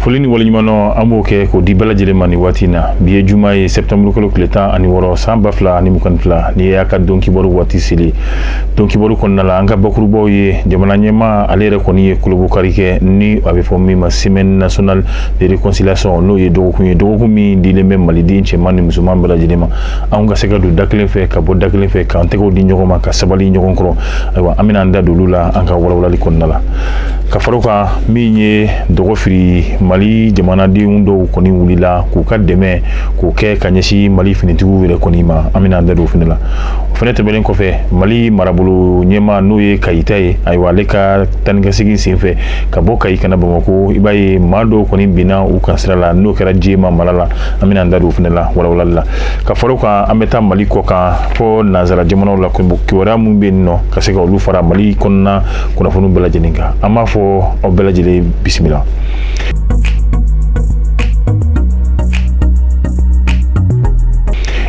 foli ni waleɲumandɔn an b'o kɛ k'o di bɛɛ lajɛlen ma nin waati na bi ye juma ye sɛptanburu kalo tile tan ani wɔɔrɔ san ba fila ani mugan ni fila ni y'a ka don kibaru waati seli don kibaru kɔnɔna la an ka bakurubaw ye jamana ɲɛmaa ale yɛrɛ kɔni ye kolobokari kɛ ni a bɛ fɔ min ma semaine nationale de réconciliation n'o ye dɔgɔkun ye dɔgɔkun min dilen bɛ maliden cɛman ni musoman bɛɛ lajɛlen ma anw ka se ka don da kelen fɛ ka bɔ da kelen fɛ k'an tɛgɛw di ɲɔgɔn ma ka sabali ɲɔgɔn kɔrɔ ayiwa an bɛna an da don olu la an ka walawalali kɔnɔna la ka fara o kan min ye dɔgɔfiri mali jamanadenw dɔw kɔni wulila k'u ka dɛmɛ k'o kɛ ka ɲɛsin mali finitigiw yɛrɛ kɔni ma an bɛna an da don o fana la o fana tɛmɛnen kɔfɛ mali marabolo ɲɛmaa n'o ye kayita ye ayiwa ale ka taanikasegin senfɛ ka bɔ kayi ka na bamakɔ i b'a ye maa dɔw kɔni binna u kan sira la n'o kɛra jema mara la an bɛna an da don o fana la walawalali la ka fara o kan an bɛ taa mali kɔ kan fɔ nanzara jamanaw la kibaruya minnu bɛ yen nɔ ka se ka olu fara mali kɔnɔna kunnafoniw bɛɛ lajɛlen kan an b'a fɔ aw bɛɛ lajɛlen bisimila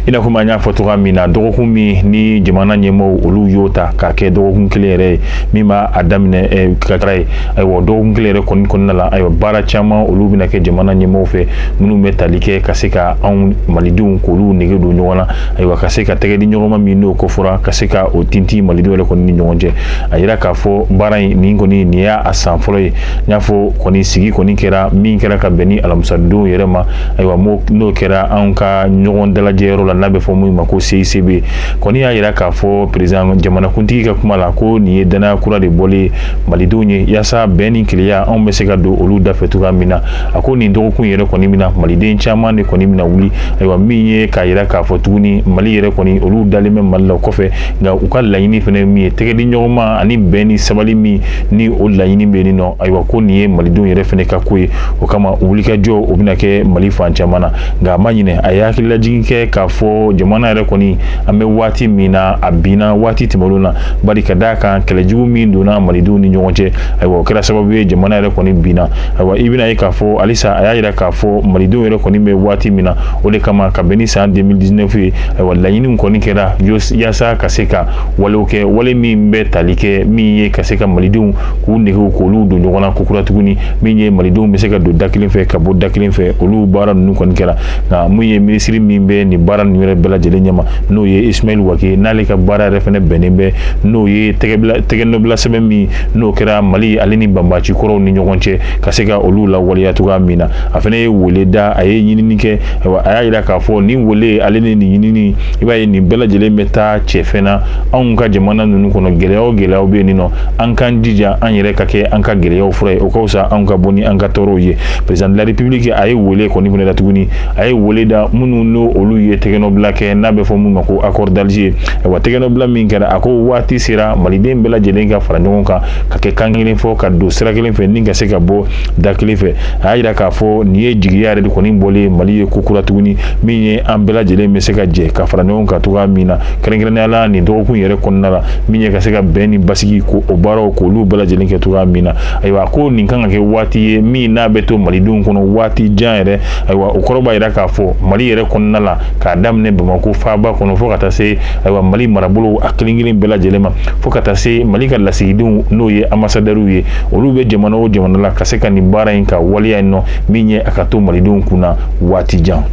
i n'a fɔ an y'a fɔ cogoya min na dɔgɔkun min ni jamana ɲɛmaaw olu y'o ta k'a kɛ dɔgɔkun kelen yɛrɛ ye min b'a daminɛ ka ye ayiwa dɔgɔkun kelen yɛrɛ kɔni kɔnɔna la ayiwa baara caman olu bɛna kɛ jamana ɲɛmaaw fɛ minnu bɛ tali kɛ ka se ka anw malidenw k'olu nege don ɲɔgɔn na ayiwa ka se ka tɛgɛ di ɲɔgɔn ma min n'o kofɔra ka se ka o tintin malidenw yɛrɛ kɔni ni ɲɔgɔn cɛ a yira k'a fɔ baara in nin kɔni nin y'a san fɔlɔ ye n y'a fɔ kɔni sigi kɔni kɛra min kɛra ka bɛn ni alamisadonw yɛrɛ ma ayiwa n'o kɛra anw ka ɲɔgɔn dalajɛyɔrɔ la n'a bɛ fɔ min ma ko CICB kɔni y'a yira k'a fɔ président jamanakuntigi ka kuma la ko nin ye danaya kura de bɔli ye malidenw ye yaasa bɛn ni kelenya anw bɛ se ka don olu dafɛ cogoya min na a ko nin dɔgɔkun yɛrɛ kɔni min na maliden caman de kɔni bɛna wuli ayiwa min ye k'a yira k'a fɔ tuguni mali yɛrɛ kɔni olu dalen bɛ mali la o kɔfɛ nka u ka laɲini fana min ye tɛgɛdiɲɔgɔnma ani bɛn ni sabali min ni o laɲini bɛ nin nɔ ayiwa ko nin ye malidenw yɛrɛ fana ka ko ye o kama wulikajɔ o bɛna kɛ mali fan caman na nka a ma ɲinɛ a ye hakililajigin kɛ k'a fɔ jamana yɛrɛ kɔni an bɛ waati min na a binna waati tɛmɛnenw na bari ka d'a kan kɛlɛjugu min donna malidenw ni ɲɔgɔn cɛ ayiwa o kɛra sababu ye jamana yɛrɛ kɔni binna ayiwa i bɛna ye k'a fɔ halisa a y'a yira k'a fɔ malidenw yɛrɛ kɔni bɛ waati min na o de kama ka bɛn ni san deux mille dix-neuf ye ayiwa laɲiniw kɔni kɛra yaasa ka se ka walew kɛ wale min bɛ tali kɛ min ye ka se ka malidenw k'u negew k'olu don ɲɔgɔn na kokura tuguni min ye malidenw bɛ se ka don da kelen fɛ ka bɔ da kelen fɛ olu baara ninnu kɔni kɛra nka mun ye minisiri min bɛ nin baara ninnu yɛrɛ bɛɛ lajɛlen ɲɛma n'o ye ismaël wagué n'ale ka baara yɛrɛ fɛnɛ bɛnnen bɛ n'o ye tɛgɛnɔbila sɛbɛn min n'o kɛra mali ale ni banbaci kɔrɔw ni ɲɔgɔn cɛ ka se ka olu lawaleya cogoya min na a fɛnɛ ye wele da a ye ɲinini kɛ a y'a yira k'a fɔ nin wele ale ni nin ɲinini i b'a ye nin bɛɛ lajɛlen bɛ taa cɛfɛn na anw ka jamana ninnu kɔnɔ gɛlɛya o gɛlɛyaw bɛ yen nin nɔ an k'an jija an yɛrɛ ka kɛ an ka gɛlɛyaw fura ye o ka fisa anw ka bɔ ni an ka tɔɔrɔw ye président de la république a ye wele kɔni fɛnɛ da tuguni a ye wele da minnu n'o olu ye tɛgɛnɔbila kɛ n'a bɛ fɔ min ma ko accord d'alger ayiwa tɛgɛnɔbila min kɛra a ko waati sera maliden bɛɛ lajɛlen ka fara ɲɔgɔn kan ka kɛ kan kelen fɔ ka don sira kelen fɛ ni ka se ka bɔ da kelen fɛ a y'a yira k'a fɔ nin ye jigiya yɛrɛ de kɔni bɔlen mali ye kokura tuguni min ye an bɛɛ lajɛlen bɛ se ka jɛ ka fara ɲɔgɔn kan cogoya min na kɛrɛnkɛrɛnnenya la nin dɔgɔkun yɛrɛ kɔnɔna la min ye ka se ka bɛn ni basigi ko o baaraw k'olu bɛɛ lajɛlen kɛ cogoya min na ayiwa ko nin kan ka kɛ waati ye min n'a bɛ to malidenw kɔnɔ waati jan yɛrɛ ayiwa o kɔrɔ b'a yira k'a fɔ mali yɛrɛ kɔnɔna la k'a daminɛ bamakɔ faaba kɔnɔ fo ka taa se ayiwa mali marabolow a kelen kelen bɛɛ lajɛlen ma fo ka taa se mali ka lasigidenw n'o ye anbasadɛriw ye olu bɛ jamana o jamana la ka se ka nin baara in ka waleya in nɔ min ye a ka to malidenw kunna waati jan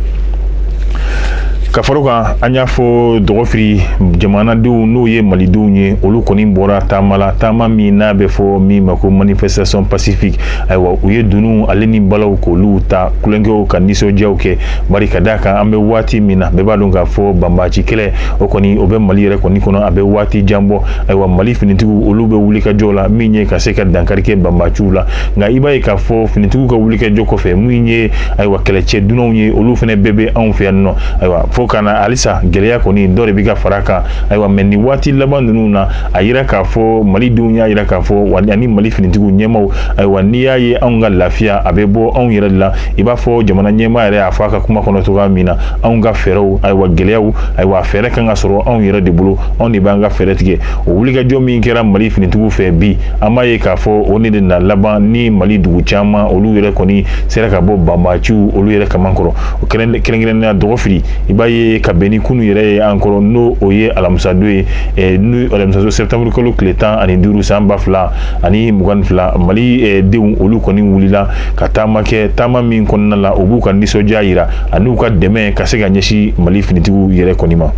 ka fara o kan an y'a fɔ dɔgɔfiri jamanadenw n'o ye malidenw ye olu kɔni bɔra taama la taama min n'a bɛ fɔ min ma ko manifestation pacifique ayiwa u ye dunun ale ni balaw k'olu ta kule kɛ ka nisɔndiyaw kɛ bari ka d'a kan an bɛ waati min na bɛɛ b'a dɔn k'a fɔ banbaci kɛlɛ o kɔni o bɛ mali yɛrɛ kɔni kɔnɔ a bɛ waati jan bɔ ayiwa mali finitigiw olu bɛ wulikajɔ la min ye ka se ka dankari kɛ banbaci la nka i b'a ye k'a fɔ finitigiw ka wulikajɔ kɔfɛ min ye ayiwa kɛlɛcɛ dunanw ye olu fɛnɛ bɛɛ bɛ anw fɛ yan nɔ ayiwa fo ka na halisa gɛlɛya kɔni dɔ de bɛ ka fara kan ayiwa mɛ nin waati laban ninnu na a yira k'a fɔ malidenw y'a yira k'a fɔ wa ani mali finitigiw ɲɛmaaw ayiwa n'i y'a ye anw ka lafiya a bɛ bɔ anw yɛrɛ de la i b'a fɔ jamana ɲɛmaa yɛrɛ y'a fɔ a ka kuma kɔnɔ cogoya min na anw ka fɛɛrɛw ayiwa gɛlɛyaw ayiwa fɛɛrɛ kan ka sɔrɔ anw yɛrɛ de bolo anw de b'an ka fɛɛrɛ tigɛ o wulikajɔ min kɛra mali finitigiw fɛ bi an b'a ye k'a fɔ o de na laban ni mali dugu caman olu yɛrɛ kɔni sera ka bɔ banbaciw olu yɛrɛ kaman kɔrɔ o kɛrɛnkɛrɛnnenya dɔgɔfiri i b'a ye ka bɛn ni kunu yɛrɛ ye an kɔrɔ n'o o ye alamisadon ye eh, n'o alamisadon septembre kalo tile tan ani duuru san ba fila ani mugan ni fila mali eh, denw olu kɔni wulila ka taama kɛ taama min kɔnɔna la u b'u ka nisɔndiya yira ani u ka dɛmɛ ka se ka ɲɛsin mali finitigiw yɛrɛ kɔni ma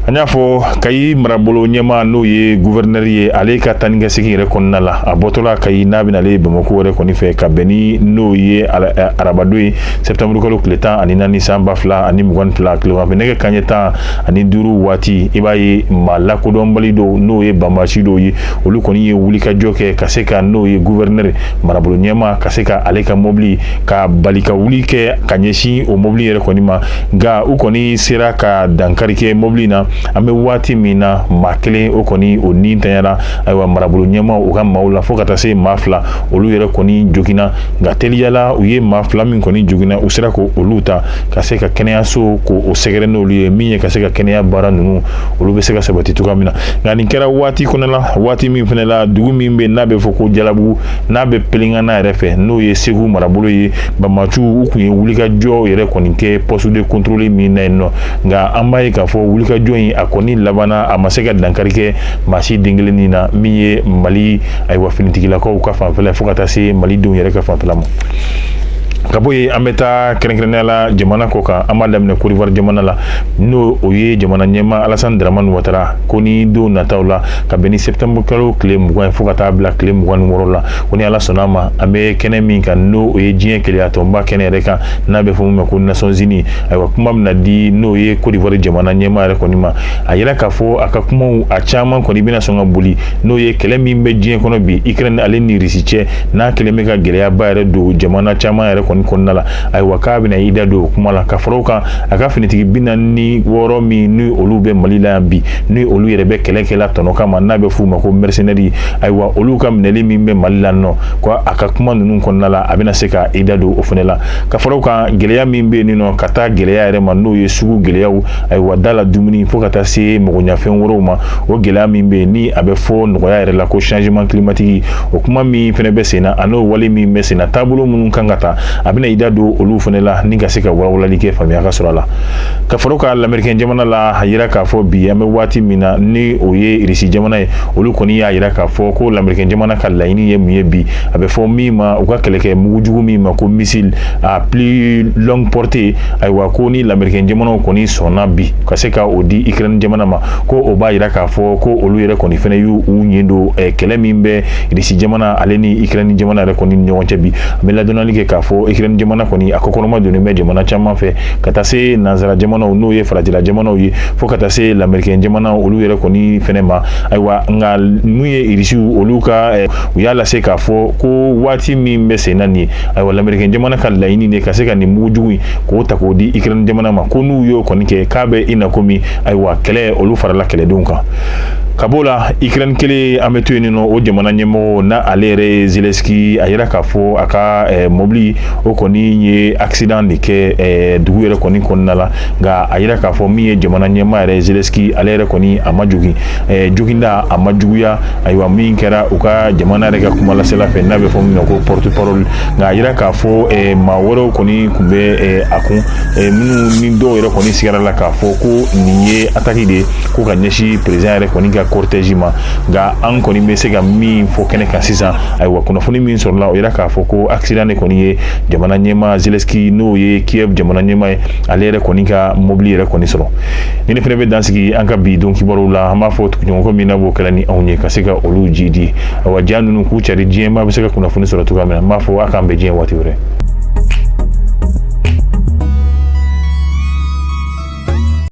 An y'a fɔ kayi marabolo ɲɛma n'o ye gouverneur ye ale ka taa ni ka segin yɛrɛ kɔnɔna la a bɔtɔla kayi n'a bɛna ale bamakɔ yɛrɛ kɔni fɛ ka bɛn ni n'o ye arabadon ye septembre kalo tile tan ani naani san ba fila ani mugan ni fila tilegan fɛ nɛgɛ kanɲɛ tan ani duuru waati i b'a ye maa lakodɔnbali dɔw n'o ye banbaaci dɔw ye olu kɔni ye wulikajɔ kɛ ka se ka n'o ye gouverneur marabolo ɲɛma ka se ka ale ka mobili ka bali ka wuli kɛ ka ɲɛsin o mobili yɛrɛ kɔni ma nka u kɔni sera ka dankari kɛ mobili na an bɛ waati min na maa kelen o kɔni o ni tanyara ayiwa marabolo ɲɛma u ka maaw la fo ka taa se maa fila olu yɛrɛ kɔni joginna nka teliyala u ye maa fila min kɔni joginna u sera k'olu ta ka se ka kɛnɛyaso k'o sɛgɛrɛ n'olu ye min ye ka se ka kɛnɛya baara ninnu olu bɛ se ka sabati cogoya min na nka nin kɛra waati kɔnɔ la waati min fana la dugu min bɛ n'a bɛ fɔ ko jalabugu n'a bɛ pelengana yɛrɛ fɛ n'o ye segu marabolo ye banbaaciw u kun ye wulikajɔ yɛrɛ kɔni kɛ poste de contrôle min na yen nɔ nka an b'a ye k'a fɔ wulikajɔ in a kɔni labanna a ma se ka dankari kɛ maa si den kelennin na min ye mali ayiwa finitigilakaw ka fanfɛla fo ka taa se mali denw yɛrɛ ka fanfɛla ma ka bɔ yen an bɛ taa kɛrɛnkɛrɛnnenya la jamana kɔ kan an b'a daminɛ kodiwari jamana la n'o o ye jamana ɲɛma alasani daramani watara ko ni don nataw la ka bɛn ni septembre kalo tile mugan ye fo ka taa bila tile mugan ni wɔɔrɔ la ko ni ala sɔnna ma an bɛ kɛnɛ min kan n'o o ye diɲɛ kelenyatɔnba kɛnɛ yɛrɛ kan n'a bɛ fɔ min ma ko nations unies ayiwa kuma bɛna di n'o ye kodiwari jamana ɲɛma yɛrɛ kɔni ma a yira k'a fɔ a ka kumaw a caman kɔni bɛna sɔn ka boli n'o ye kɛlɛ min bɛ diɲɛ kɔnɔ bi ukraine ale ni risi cɛ n'a kɛlen bɛ ka gɛlɛyaba yɛrɛ don jamana caman yɛrɛ kɔni kɔnɔna la ayiwa k'a bɛna i da don o kuma la ka fara o kan a ka finitigi bi naani ni wɔɔrɔ min ni olu bɛ mali la yan bi ni olu yɛrɛ bɛ kɛlɛkɛla tɔnɔ kama n'a bɛ f'u ma ko mercenaires ayiwa olu ka minɛli min bɛ mali la nɔ ko a ka kuma ninnu kɔnɔna la a bɛna se ka i da don o fana la ka fara o kan gɛlɛya min bɛ yen nɔ ka taa gɛlɛya yɛrɛ ma n'o ye sugu gɛlɛyaw ayiwa da la dumuni fo ka taa se magoɲɛfɛn wɛrɛw ma o gɛlɛya min bɛ ni a bɛ fɔ nɔgɔya yɛrɛ la ko changement climatique o kuma min fana bɛ senna an'o wale min bɛ senna taabolo minnu kan ka ta a bɛna i da don olu fana la ni ka se ka walawalali kɛ faamuya ka sɔrɔ a la ka far'a kan lamerikɛn jamana la a yira k'a fɔ bi an bɛ waati min na ni o ye irisi jamana ye olu kɔni y'a yira k'a fɔ ko lamerikɛn jamana ka laɲini ye mun ye bi a bɛ fɔ min ma u ka kɛlɛkɛ mugujugu min ma ko missile à plus longue portée ayiwa ko ni lamerikɛn jamanaw kɔni sɔnna bi ka se ka o di ukraine jamana ma ko o b'a yira k'a fɔ ko olu yɛrɛ kɔni fana y'u ɲɛ don kɛlɛ min bɛ irisi jamana ale ni ukraine jamana yɛrɛ kɔni ɲɔgɔn cɛ bi an bɛ ladɔnnali kɛ k'a fɔ ukraine jamana kɔni a kɔkɔrɔmadonnen bɛ jamana caman fɛ ka taa se nansara jamanaw n'o ye farajɛla jamanaw ye fo ka taa se lamerike jamana olu yɛrɛ kɔni fɛnɛ ma ayiwa nka min ye irisiw olu ka eh, u y'a lase k'a fɔ ko waati min bɛ senna nin ye ayiwa lamerike jamana ka laɲini de ka se ka nin mugujugu in k'o ta k'o di ikirɛni jamana ma ko n'u y'o kɔni kɛ k'a bɛ i na komi ayiwa kɛlɛ olu farala kɛlɛdenw kan ka b'o la ikirɛni kelen an bɛ to yen nɔ o jamana ɲɛmɔgɔ n'ale yɛrɛ ye zelɛnski a yira k'a fɔ a ka eh, mɔbili o kɔni ye accident de kɛ eh, dugu yɛrɛ kɔni kɔnɔna la nka a yira k'a fɔ min ye jamana ɲɛmaa yɛrɛ Zelensky ale yɛrɛ kɔni a ma jogin eh, joginda a ma juguya ayiwa min kɛra u ka jamana yɛrɛ ka kumalasela fɛ n'a bɛ fɔ min ma ko porte parole nka a yira k'a fɔ eh, maa wɛrɛw kɔni tun bɛ a kun minnu ni dɔw yɛrɛ kɔni sigara la k'a fɔ ko nin ye attaque de ye ko ka ɲɛsin président yɛrɛ kɔni ka cortège ma nka an kɔni bɛ se ka min fɔ kɛnɛ kan sisan ayiwa kunnafoni min sɔrɔla o yira k'a fɔ ko accident de kɔni ye jamana ɲɛmaa Zelensky n'o ye Kiev jamana ɲɛmaa ye ale yɛrɛ kɔni ka mobili yɛrɛ kɔni sɔrɔ nin de fana bɛ dansigi an ka bi don kibaruw la an b'a fɔ tuguɲɔgɔnkɔ min na b'o kɛla ni anw ye ka se ka olu ji di awa ja ninnu k'u cari diɲɛmaa bɛ se ka kunnafoni sɔrɔ cogoya min na n b'a fɔ a k'an bɛn diɲɛ waati wɛrɛ